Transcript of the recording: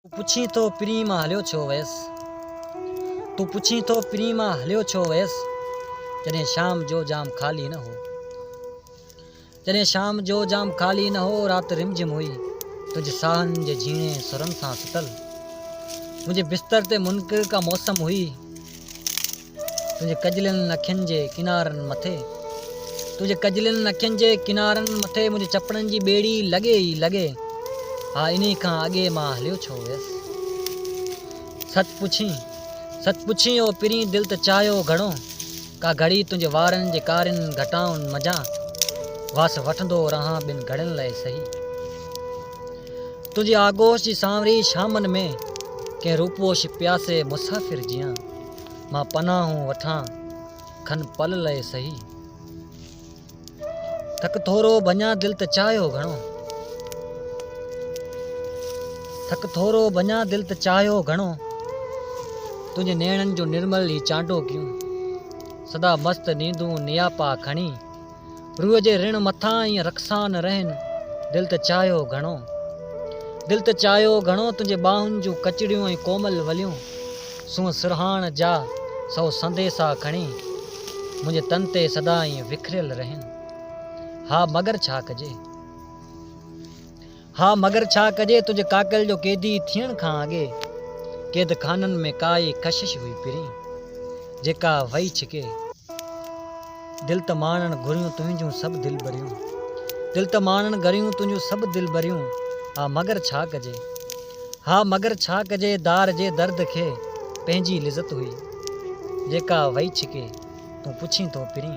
تون پڇين ٿو پرينء مان هليو ڇو ويس تون پڇين ٿو پرينء مان هليو ڇو ويس جڏهن شام جو جام خالي نه هو جڏهن شام جو جام خالي نه هو رات رم جم هئي تنهنجي ساهن جي جهيڻي سرن سان ستل منهنجي بستر تي منڪر ڪا موسم هئي تنهنجي ڪجلين اکين جي ڪنارن مٿي تنهنجي ڪجلين اکين جي ڪنارن مٿي منهنجي چپڙن جي ٻيڙي لڳي ئي لڳي ها انهي کان اڳي مان هليو ڇو ويس سچ پڇين سچ پڇين او پرين دل ته چاهيو گهڻو ڪا گهڙي تنهنجي وارن جي ڪارين گهٽائن منجهان وس وٺندو رهان ٻن گهڙين لاء سهي تنهنجي آغوش جي سانوري شامن ۾ ڪنهن روپوش پياسي مسافر جيان مان پناهون وٺان کن پل لئه سهي ٿڪ ٿورو ڀڃان دل ته چاهيو گهڻو ٿڪ ٿورو ڀڃان دل ته چاهيو گهڻو تنهنجي نيڻن جو نرمل هي چانڊو ڪيون سدا مست نيندون نياپا کڻي روح جي رڻ مٿان ائين رقصان رهن دل ته چاهيو گهڻو دل ته چاهيو گهڻو تنهنجي ٻانهن جون ڪچڙيون ۽ ڪومل وليون سونهن سرهاڻ جا سو سنديسا کڻي منهنجي تن تي سدا ائين وکريل رهن ها مگر ڇا ڪجي. ها مگر ڇا ڪجي تنهنجي ڪاڪل جو قيدي ٿيڻ کان اڳي قيد خانن ۾ ڪا ئي ڪشش هئي پرين جيڪا وئي ڇڪي. دل ته ماڻڻ گهريون تنهنجون سڀ دلبريون دل ته ماڻڻ گهريون تنهنجون سڀ دلبريون ها مگر ڇا ڪجي ها مگر ڇا ڪجي دار جي درد کي پنهنجي لذت هئي جيڪا وئي ڇڪي تون پڇين ٿو پرين.